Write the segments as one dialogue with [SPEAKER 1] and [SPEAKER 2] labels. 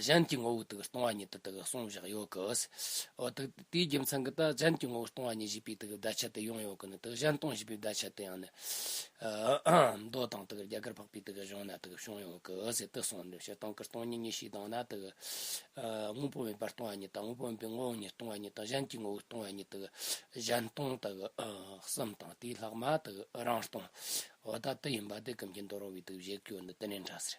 [SPEAKER 1] གཞན་གྱི་ངོ་བོ་དག་སྟོང་བ་ཉིད་དུ་དག་གསུངས་བཞག་ཡོད་གི། འོ་དག་དེའི་རྒྱུ་མཚན་གྱིས་ད་གཞན་གྱི་ངོ་བོ་སྟོང་བ་ཉིད་བཞི་པའི་དག་བརྡ་ཆད་དུ་ཡང་ཡོད་གི་ནི་དག་གཞན་སྟོང་བཞི་པའི་བརྡ་ཆད་དུ་ཡང་ནི། མདོ་དང་དག་རྒྱ་གར་འཕགས་པའི་དག་གཞུང་ན་དག་བྱུང་ཡོད་གི་ཟད་དུ་གསུངས་ནས་བྱེད་སྟངས་ཀྱི་སྟོང་ཉིད་གཉིས་ཤེས་སྟངས་ན་དག། དངོས་པོ་མེད་པར་སྟོང་བ་ཉིད་དང་དངོས་པོ་མིན་པའི་ངོ་བོ་ཉིད་སྟོང་བ་ཉིད་དང་གཞན་གྱི་ངོ་བོ་སྟོང་བ་ཉིད་དག་གཞན་སྟོང་དག་གསུམ་དང་དེའི་ལྷག་མ་དག་རང་སྟོང། འོ་ད་དེ་ཡིན་པ་དེ་ཀུན་གྱི་མདོར་རོ་བའི་དག་བཞེད་ཀྱི་ཡོད་ནི་དེ་ནས་འདྲ་ཟེར།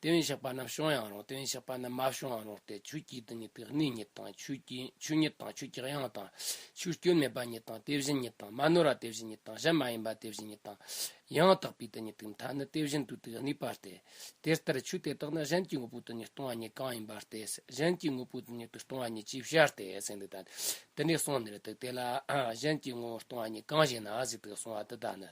[SPEAKER 1] དེ་བས་ཞགས་པ་རྣམས་བྱུང་ཡང་རུང་དེ་བས་ཞགས་པ་རྣམས་མ་བྱུང་ཡང་རུང་སྟེ་ཆུ་སྐྱེས་དུས་ཉིད་དེ་གནས་ཉིད་དང་ཆུ་ཉིད་དང་ཆུ་སྐྱེས་ཡང་དང་ཆུ་སྐྱོན་མེད་པ་ཉིད་དང་དེ་བཞིན་ཉིད་དང་མ་ནོར་བ་དེ་བཞིན་ཉིད་དང་གཞན་མ་ཡིན་པ་དེ་བཞིན་ཉིད་དང་ཡང་དག་པའི་དུས་ཉིད་དེའི་མཐའ་ནི་དེ་བཞིན་དུ་དེ་གནས་པ་སྟེ། དེ་ལྟར་ཆོས་དེ་དག་ནི་གཞན་གྱི་དངོས་པོའི་དུས་ཉིད་སྟོང་བ་ཉིད་གང་ཡིན་པར་ཏེ་གཞན་གྱི་དངོས་པོའི་དུས་ཉིད་དུ་སྟོང་བ་ཉིད་ཅེས་བྱ་སྟེ་ཟིན་ཏོ། དེ་ནས་གསུངས་ནི་དེ་ལ་གཞན་གྱི་དངོས་པོ་སྟོང་བ་ཉིད་གང་ཞེ་ན་གཟུགས་དག་གསུང་བ་འདི་དག་ནི།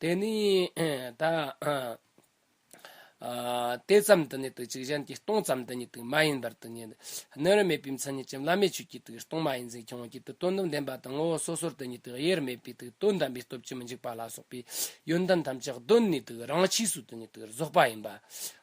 [SPEAKER 1] དེ་ནས་ད་དེ་ཙམ་དུ་ནི་དུག་ཅིག་གཞན་གྱི་སྟོང་ཙམ་དུ་ནི་དུག་མ་ཡིན་པར་དུ་ནི་སྣོད་རིམ་མེད་པའི་མཚན་ཉིད་ཀྱི་བླ་མེད་ཆོས་ཀྱི་དུག་སྟོང་མ་ཡིན་འཛིན་སྐྱོང་བགྱིད་དུ་དོན་དུ་ལྡན་པ་དང་ངོ་བོ་སོ་སོར་དུ་ནི་དུག་དབྱེ་བར་མེད་པའི་དུག་དོན་དམ་པའི་སྟོབས་ཀྱིས་མི་འཇིགས་པ་ལ་སོགས་པའི་ཡོན་ཏན་ཐམས་ཅད་གདོད་ནས་དུག་རང་ཆས་སུ་དུ་ནི་དུག་རྫོགས་པ་ཡིན་པ་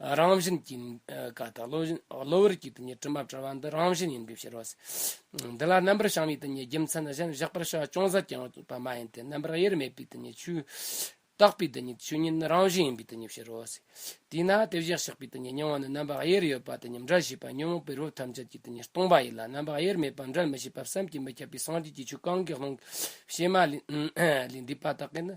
[SPEAKER 1] རང་བཞིན་གྱི་ཀ་དག་བློ་བཞིན་གློ་བུར་གྱི་དེ་ཉིད་དྲི་མ་བྲལ་བ་འདི་རང་བཞིན་ཡིན་དགོས་ཕྱིར་རོ། འདི་ལ་རྣམ་པར་བྱང་བའི་དེ་ཉིད་རྒྱུ་མཚན་གཞན་བཞག་པར་བྱ་བ་ཅུང་ཟད་ཀྱང་ཡོད་པ་མ་ཡིན་ཏེ་རྣམ་པར་དབྱེར་མེད་པའི་དེ་ཉིད་ཆོས། རྟག་པའི་དེ་ཉིད་ཆོས་ཉིད་ནི་རང་བཞིན་ཡིན་པའི་དེ་ཉིད་ཕྱིར་རོ། དེས་ན་དེ་བཞག་བྱེད་པའི་དེ་ཉིད་མྱོང་བ་ནི་རྣམ་པར་དབྱེར་ཡོད་པ་དེ་ཉིད་འདྲ་བྱེད་པ་ཉོན་མོངས་པའི་རོ་ཐམས་ཅད་ཀྱི་དེ་ཉིད་སྟོང་པ་ཡིན་ལ་རྣམ་པར་དབྱེར་མེད་པ་འདྲ་མི་བྱེད་པ་བསམ་གྱིས་མི་ཁྱབ་པའི་སངས་རྒྱས་ཀྱི་ཆོས་གང་གིས་ལྷུང་བྱེད་མ་ལས་འདས་པ་དག་གིས་ནི།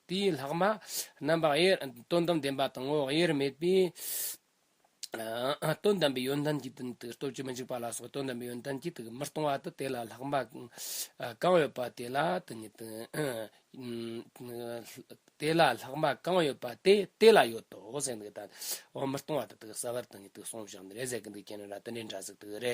[SPEAKER 1] དེ་ཡི་ལྷག་མ་རྣམ་པ་དབྱེ། དོན་དམ་བདེན་པ་དང་ངོ་བོ་དབྱེ་བར་མེད་པས། དོན་དམ་པའི་ཡོན་ཏན་གྱི་དོན་དུ་སྟོབས་ཀྱིས་མི་འཇིགས་པ་ལ་སོགས་དོན་དམ་པའི་ཡོན་ཏན་གྱིས་དུག་མི་གཏོང་བ་དང་དེ་ལ་ལྷག་མ་གང་ཡོད་པ་དེ་ལ་དེ་ཉིད་དེ་ལ་ལྷག་མ་གང་ཡོད་པ་དེ་དེ་ལ་ཡོད་དོ། ཟེར་འདུག་ད་དུ་མི་གཏོང་བ་དེ་དག་གསལ་བར་དེ་ཉིད་དུ་གསུངས་བཞག་ནི་རེ་ཟད་ཀྱི་འདུག་ཀྱེ་ན་ར་དེ་འདྲའི་འདྲ་ཟེར་དུ་རེ་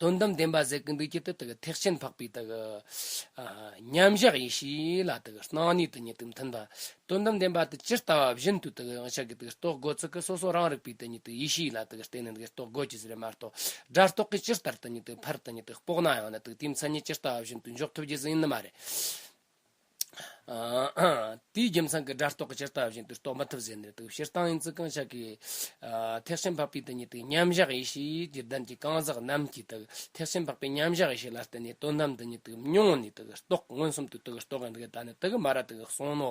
[SPEAKER 1] དོན་དམ་བདེན་པ་ཟད་ཀྱི་འདུག་ཀྱི་དེ་དག་ཐེག་ཆེན་འཕགས་པའི་དག། མཉམ་གཞག་ཡེ་ཤེས་ལ་དག་སྣང་ནུས་དང་ཉིད་དུ་མཐུན་པ། དོན་དམ་བདེན་པ་དེ་ཇི་ལྟ་བ་བཞིན་དུ་དག་ཡང་ཆགས་ཀྱི་དག་རྟོགས་སྒོ་ཚུལ་གྱི་སོ་སོ་རང་རིག་པའི་དེ་ཉིད་དུ་ཡེ་ཤེས་ལ་དག་བརྟེན་ནས་དག་རྟོགས་སྒོ་ཇི་ལྟར་མ་རྟོགས་སྒྲ་རྟོག་གིས་ཇི་ལྟར་དེ་ཉིད་དུ་འཕར་དེ་ཉིད་དུ་དཔོག་ན་ཡང་ན་དེའི་མཚན་ཉིད་ཇི་ལྟ་བ་བཞིན་དུ་འཇོག་ཐུབ་རྒྱུ་ཟིན་ནི་མ་རེད། དེའི་རྒྱུ་མཚན་གྱིས་སྒྲ་རྟོག་གི་ཕྱིར་ལྟ་བཞིན་དུ་རྟོགས་མི་ཐུབ་ཟེར་ནས་དུག་ཕྱིར་བཏང་ཡིན་ཚུལ་གང་ཤར་གྱི། ཐེག་ཆེན་འཕགས་པའི་དེ་ཉིད་དུ་མཉམ་གཞག་ཡེ་ཤེས་ཀྱི་གདན་གྱི་རྐང་ཟག་རྣམས་ཀྱིས་དུག་ཐེག་ཆེན་འཕགས་པའི་མཉམ་གཞག་ཡེ་ཤེས་ལ་བརྟེན་ནས་དོན་དམ་དུ་ནི་དུག་མྱོང་ནས་དུག་རྟོག་མངོན་སུམ་དུ་དུག་རྟོག་གི་འདུག་གདའ་ནི་དུག་མ་ར་དུག་གསུང་ནོ།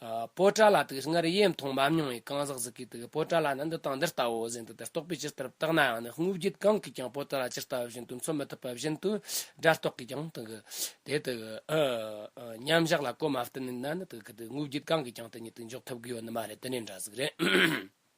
[SPEAKER 1] སྤོས་བྲ་ལ་དུག་ལྔར་དབྱེ་མཐོང་མ་མྱོང་བའི་གང་ཟག་གཟུགས་ཀྱི་དུག་སྤོས་བྲ་ལ་ནི་འདི་དང་འདི་ལྟ་བུ་བཞིན་དུ་དེར་རྟོག་པའི་ཕྱིར་དེར་བརྟགས་ནའང་ནི་དངོས་བརྒྱུད་གང་གིས་ཀྱང་སྤོས་བྲ་ལ་ཇི་ལྟ་བ་བཞིན་དུ་མཚོན་མི་ཐུབ་པ་བཞིན་དུ་སྒྲ་རྟོག་གིས་ཀྱང་དུག་དེ་དུག་མཉམ་བཞག་ལ་གོ་མ་བསྟུན་ན་ནི་དུག་གི་དུག་དངོས་བརྒྱུད་གང་གིས་ཀྱང་དེ་ཉིད་དུ་འཇོག་ཐུབ་གི་ཡོད་ནི་མ་རེད་དེ་ནི་འདྲ་གཟུགས་རེད།